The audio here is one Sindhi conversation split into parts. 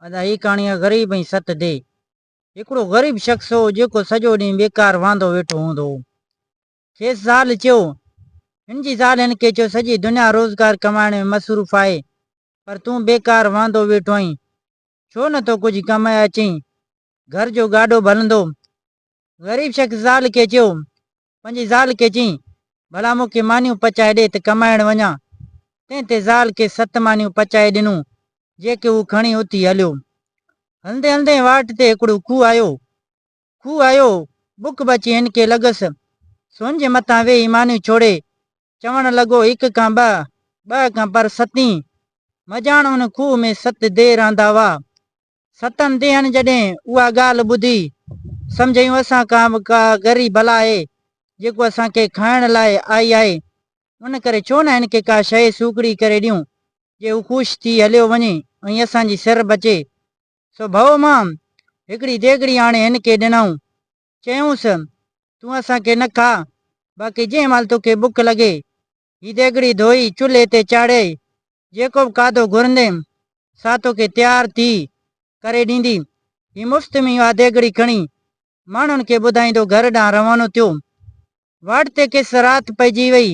ادا هي ڪهاڻي آ غريب ۽ ست دي. هڪڙو غريب شخص هو جيڪو سڄو ڏينهن بيڪار واندو ويٺو هوندو هو. کيس زال چيو. هن جي زال هن کي چيو سڄي دنيا روزگار ڪمائڻ ۾ مصروف آهي پر تون بيڪار واندو ويٺو آهين ڇو نه ٿو ڪجهه ڪمائي اچين گهر جو گاڏو به هلندو. غريب شخص زال کي چيو پنهنجي زال کي چيائين، ڀلا مون کي مانيون پچائي ڏي ته ڪمائڻ وڃان. تنهن تي زال کيس ست مانيون پچائي ڏنون، جيڪي هو کڻي اٿي هليو. هلندي هلندي واٽ تي هڪڙو کوهه آيو. کوهه آيو، بک به اچي هن کي لڳس. سو هن جي مٿان ويهي مانيون ڇوڙي، چوڻ لڳو، هڪ کان ٻه، ٻه کان پر ستين. مجاڻ ان کوهه ۾ ست ديهه رهندا هئا. ستم ديهن جڏهن اها ڳالهه ٻڌي، سمجهيون اسان کان به ڪا ڳري بلا آهي، جيڪو اسان کي کائڻ لاء آئي آهي، ان ڪري ڇو نه هن کي ڪا شيء سوکڙي ڪري ڏيون، جي هو خوش ٿي هليو وڃي ۽ اسان جي سر بچي. سو ڀئو مان هڪڙي ديڳڙي آڻي هن کي ڏنائون، چيائونس، تون اسان کي نه کاء، باقي جنهن مهل توکي بک لڳي، هي ديڳڙي ڌوئي چلهي تي چاڙهي، جيڪو به کاڌو گهرندين، سا توکي تيار ٿي ڪري ڏيندين. هي مفت ۾ ئي اها ديڳڙي کڻي، ماڻهن کي ٻڌائيندو گهر ڏانهن روانو ٿيو. واٽ تي کيس رات پئجي ويئي.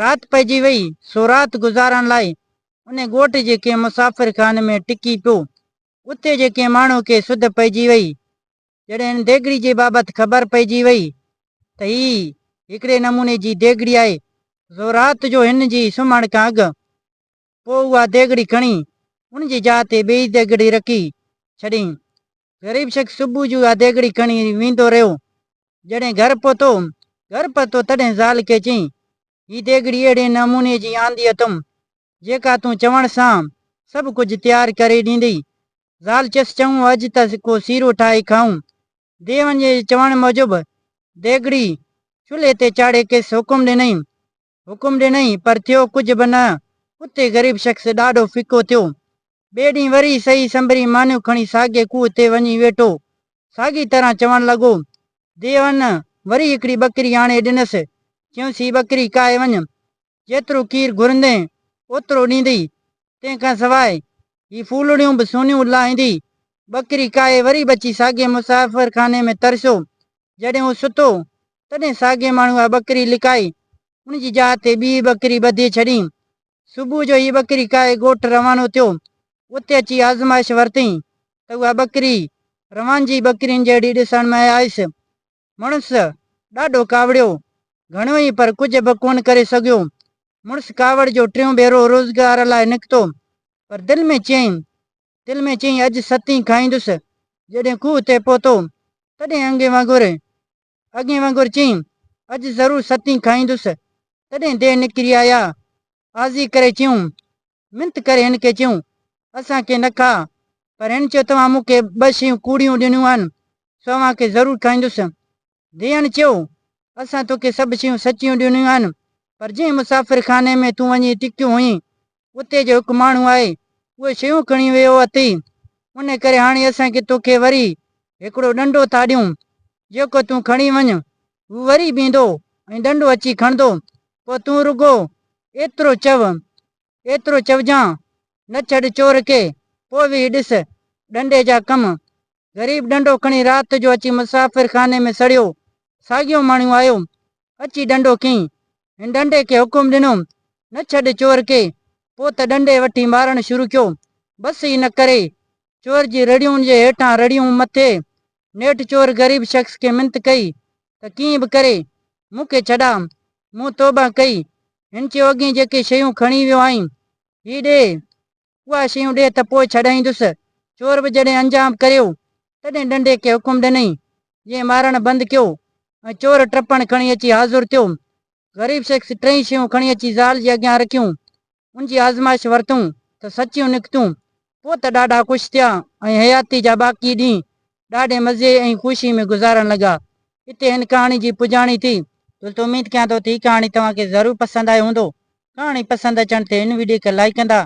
رات پئجي ويئي، سو رات گذارڻ لاء ان ڳوٺ جي ڪنهن مسافر خاني ۾ ٽڪي پيو. اتي جي ڪنهن ماڻهو کي سڌ پئجي وئي. جڏهن هن ديڳڙي جي بابت خبر پئجي وئي ته هي هڪڙي نموني جي ديڳڙي آهي، سو رات جو هن جي سمهڻ کان اڳ پوء اها ديڳڙي کڻي ان جي جاء تي ٻيئي ديڳڙي رکي ڇڏيائين. غريب شخص صبح جو اها ديڳڙي کڻي ويندو رهيو. جڏهن گهر پهتو، گهر پهتو تڏهن زال کي چيائين، هي ديڳڙي اهڙي نموني جي آندي اٿم، جيڪا تون چوڻ سان سڀ ڪجهه تيار ڪري ڏيندي. زال چيس، چڱو اڄ ته ڪو سيرو ٺاهي کائون. ديوانجي جي چوڻ موجب ديڳڙي چلهي تي چاڙهي کيس حڪم ڏنائين. حڪم ڏنائين پر ٿيو ڪجهه به نه. اتي غريب شخص ڏاڍو ڦڪو ٿيو. ٻئي ڏينهن وري سهي سنبري مانيون کڻي ساڳئي کوهه تي وڃي ويٺو. ساڳي طرح چوڻ لڳو. ديوان وري هڪڙي ٻڪري آڻي ڏنس. چيائونس هي ٻڪري ڪاهي وڃ. جيترو کير گهرندين اوترو ڏيندي، تنهن کان سواء هي ڦولڙيون به سونيون لاهيندي. ٻڪري ڪاهي وري به اچي ساڳئي مسافر خاني ۾ ترسيو. جڏهن هو ستو، تڏهن ساڳئي ماڻهوء اها ٻڪري لڪائي، ان جي جاء تي ٻي ٻڪري ٻڌي ڇڏي. صبح جو هي ٻڪري ڪاهي ڳوٺ روانو ٿيو. اتي اچي آزمائش ورتئين ته اها ٻڪري روانجي ٻڪرين جهڙي ڏسڻ ۾ آيس. مڙس ڏاڍو ڪاوڙيو، گهڻو ئي پر ڪجهه به ڪونه ڪري سگهيو. مڙس ڪاوڙ جو ٽيون ڀيرو روزگار لاء نڪتو، پر دل ۾ چيائين، دل ۾ چيائين اڄ ستين کائيندس. جڏهن کوهه تي پهتو، تڏهن انگي وانگر، اڳين وانگر چيائين، اڄ ضرور ستين کائيندس. تڏهن ديهه نڪري آيا. عاضي ڪري چيون. منٿ ڪري هن کي چيون، اسان کي نه کاء. پر هن چيو توهان مون کي ٻه شيون ڪوڙيون ڏنيون آهن، سو اوهان کي ضرور کائيندس. ڌيئڻ چيو، اسان توکي سڀ شيون سچيون ڏنيون آهن، پر جنهن مسافر خاني ۾ تون وڃي ٽڪيو هئين، اتي جو هڪ ماڻهو آهي، اهي شيون کڻي ويو اٿئي، ان ڪري هاڻي اسان کي توکي وري هڪڙو ڏنڊو ٿا ڏيون. جيڪو تون کڻي وڃ، هو وري به ايندو ۽ ڏنڊو اچي کڻندو، پوء تون رڳو ايترو چئو، ايترو چئجان، نه ڇڏ چور کي، پوء ويهي ڏس، ڏنڊي جا ڪم. غريب ڏنڊو کڻي رات جو اچي مسافر خاني ۾ سڙيو، ساڳيو ماڻهو آيو، اچي ڏنڊو کنئين، هن ڏنڊي کي حڪم ڏنو، نه ڇڏ چور کي، پوء ته ڏنڊي وٺي مارڻ شروع ڪيو، بس ئي نه ڪري، چور جي رڙيون ان جي هيٺان رڙيون مٿي، نيٺ چور غريب شخص کي منٿ ڪئي ته ڪيئن به ڪري مون کي ڇڏاء، مون توبهه ڪئي. هن چيو اڳئين جيڪي شيون کڻي ويو آهين، هي ڏي، اها شيون ڏي ته پوء ڇڏائيندس. چور به جڏهن انجام ڪريو، تڏهن ڏنڊي کي حڪم ڏنئين، جنهن مارڻ بند ڪيو ۽ چور ٽپڻ کڻي اچي حاضر ٿيو. غريب شخص ٽئي شيون کڻي اچي زال جي اڳيان رکيون ان جي آزمائش ورتون ته سچيون نڪتون. پوء ته ڏاڍا خوش ٿيا ۽ حياتي جا باقي ڏينهن ڏاڍي مزي ۽ خوشي ۾ گذارڻ لڳا. هتي هن ڪهاڻي جي پڄاڻي ٿي. دوستو اميد ڪيان ٿو ته هي ڪهاڻي توهان کي ضرور پسند آئي هوندو. ڪهاڻي پسند اچڻ تي هن وڊيو کي لائيڪ ڪندا.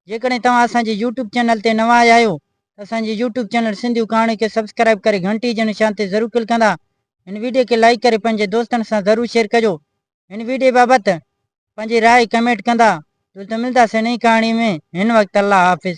جيڪڏهن توهان اسان جي يوٽيوب چينل تي نوان آيا آهيو ته اسان جي يوٽيوب چينل سنڌيون ڪهاڻيون کي سبسڪرائيب ڪري گهنٽي جي نشان تي ضرور ڪلڪ ڪندا. هن وڊيو کي لائيڪ ڪري پنهنجي دوستن سان ضرور شيئر ڪجو. هن ويڊيو بابت پنهنجي راء ڪمينٽ ڪندا جلد ملداسين نئين ڪهاڻي ۾ هن وقت الله حافظ.